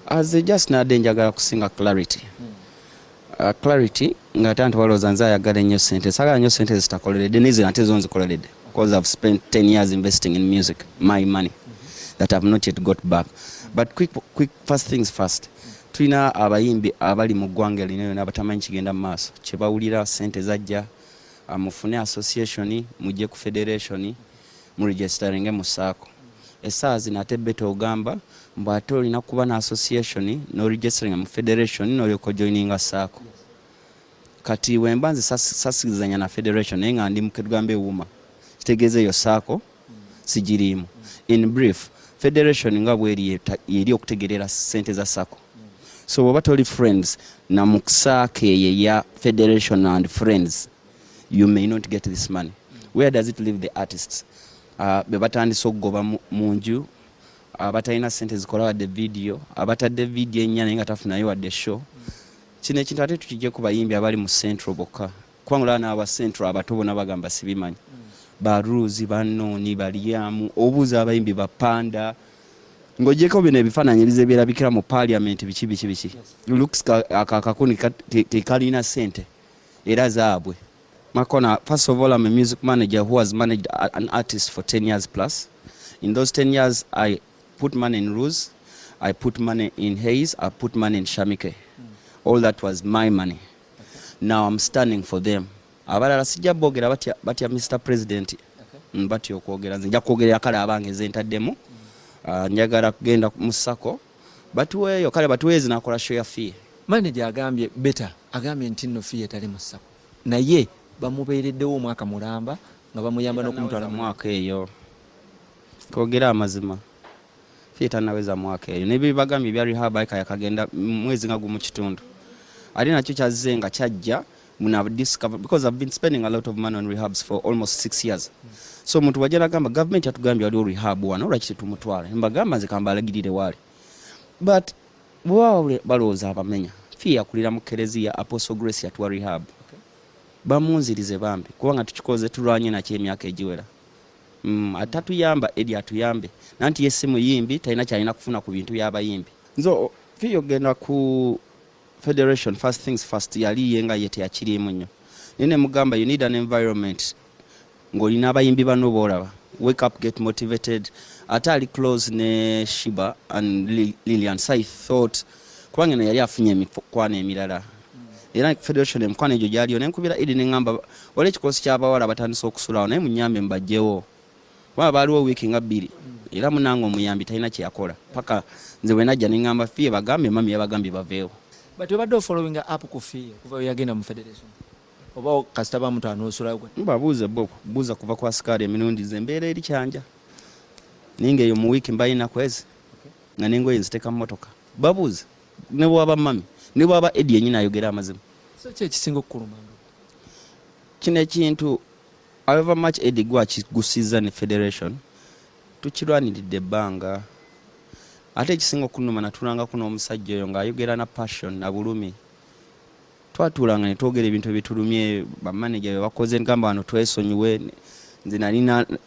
as a just nade njagala kusinga clarity uh, clarity nga ate antu balowooza nze ayagala ennyo sente sagala nnyo sente zitakoleredde naye zino ate zo nzikoleredde because i've spent 10 years investing in music my money that i've not yet got back but quick, quick first things first tulina abayimbi abali mu ggwanga lino yona abatamanyi kigenda mu maaso kyebawulira sente zajja uh, mufune association mujje ku federation mu registeringe mu saako esaawa zino ate beta ogamba mbu ate olina kuba na association no registering mu federation nolyoka ojoininga saako kati wemba nze sasikizanya na federation naye nga ndi muketugambe wuma kitegeeza eyo saako sigiriimu in brief federation nga bweri eri okutegerera sente za sako so bwoba toli friends na mukusaako eyo eya federation and friends you may not get this money where does it leave the artists uh, be batandise okugoba mu nju abatalina uh, sente zikola wadde vidiyo abatadde vidiyo ennya naye nga tafunayo wadde show kino ekintu ate tukijje ku bayimbi abali mu central bokka kubanga olaba naaba central abato bona bagamba sibimanyi ba rules banooni balyamu obuuza abayimbi bapanda ng'ogyeko bino ebifaananyi ebize byerabikira mu parliament biki biki biki looks akakuni kekalina sente era zaabwe Makona, first of all, I'm a music manager who has managed an artist for 10 years plus. In those 10 years, I put money in Ruse, I put money in Hayes, I put money in Shamike. All that was my money. Now I'm standing for them. Abalala sijja bogera batya, batya Mr. President. Okay. Batya okwogera, nze nja kwogerera kale abange nze ntaddemu. Uh, njagala kugenda mu sako. batuweeyo kale batuweeyo zinakola show ya fee manager agambye beta agambye nti no fee etali mu sako naye bamubeereddewo omwaka mulamba nga bamuyamba n'okumutwala mu mwaka eyo twogere amazima fee tanaweza mwaka eyo nebibagambye ebya rehab ayika yakagenda mwezi nga gumu kitundu ate nakyo kyazze nga kyajja Muno I've discovered because I've been spending a lot of money on rehabs for almost six years. So omuntu wajja nagamba government yatugambye waliwo rehab wano lwaki tetumutwala mbagamba nze kambalagirire waali but bwebaba balowooza abamenya fee yakulira mu kereziya apostle grace yatuwa rehab bamunzirize bambi kubanga tukikoze tulwanye nakyo emyaka egiwera mm, ate atuyamba eri atuyambe nanti ye si muyimbi talina kyalina kufuna ku bintu byabayimbi nze fee yogenda ku federation first things first yali ye nga ye teyakiriimu nnyo naye ne mugamba you need an environment ng'olina abayimbi bano boolaba wake up get motivated ate ali close ne shiba and lilian so i thought kubanga eno yali afunye emikwano emirala era federation emikwano egyo gyaliyo nenkubira idi neŋamba wali ekikosi ky'abawala batandise okusulawo naye munyambe mbajjewo kuba baaliwo wiiki nga bbiri era munange omuyambi talina kyeyakola paka nze bwenajja neŋamba fiye bagambye mami yabagambye baveewo but obadde ofollowing up ku fiye kuva weyagenda mu federation oba kasita bamutanoosulayo babuuze bo buuza kuva kwa sikaali emirundi ze embeera eri kyanja naye ngaeyo mu wiiki mbalina kwezi nga nengoye nziteeka mu motoka babuuze ne bwaba mami ne bwaba edi yenyini ayogera amazima so kyekisinga okukuluma kino ekintu However much Eddie gwa kigusizza ne federation tukirwaniridde ebbanga ate ekisinga okunuma natulangako n'omusajja oyo ng'ayogera na passion na bulumi twatuulanga ne twogera ebintu ebitulumye bamaneja bye bakoze gamba wano twesonyiwe nze nali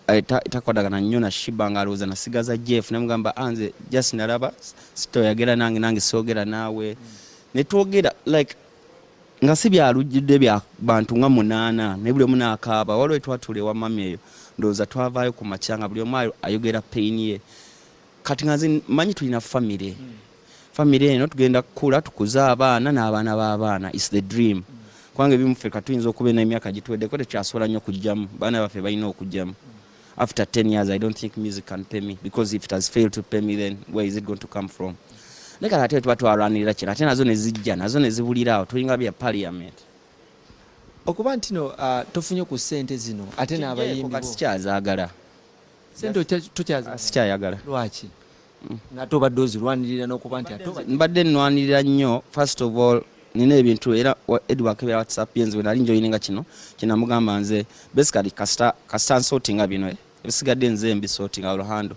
eh, takwadagana nnyo na shiba ng'alowooza nasigaza jeff naye mugamba ah, nze just nalaba sitoyagera nange nange soogera naawe ne twogera like nga si byalujjudde bya bantu nga munaana naye buli omu naakaaba waliwo etwatula ewa mami eyo ndowooza twavaayo ku makya nga buli omu ayogera peyini ye kati nga nze manyi tulina famire famire eno tugenda kukula tukuze abaana n'abaana b'abaana is the dream kubanga ebimu ffe katuyinza okuba n'emyaka gituweddeko tekyasobola nnyo kujjamu baana baffe balina okujjamu after 10 years i don't think music can pay me because if it has failed to pay me then where is it going to come from naye kati ate tuba twalwanirira kino ate nazo nezijja nazo nezibulira awo tulinga bya parliament okuba nti no uh, tofunye ku sente zino ate n'abayimbi sikyazagala sente tokyazagala sikyayagala lwaki ngate obadde ozirwanirira nokuba nti mbadde nnwanirira nnyo first of all nina ebintu era edward kebera whatsapp yenze wenali njoyininga kino kyenamugamba nze basically kasita kasita nsotinga bino eh, ebisigadde nze mbisotinga oluhando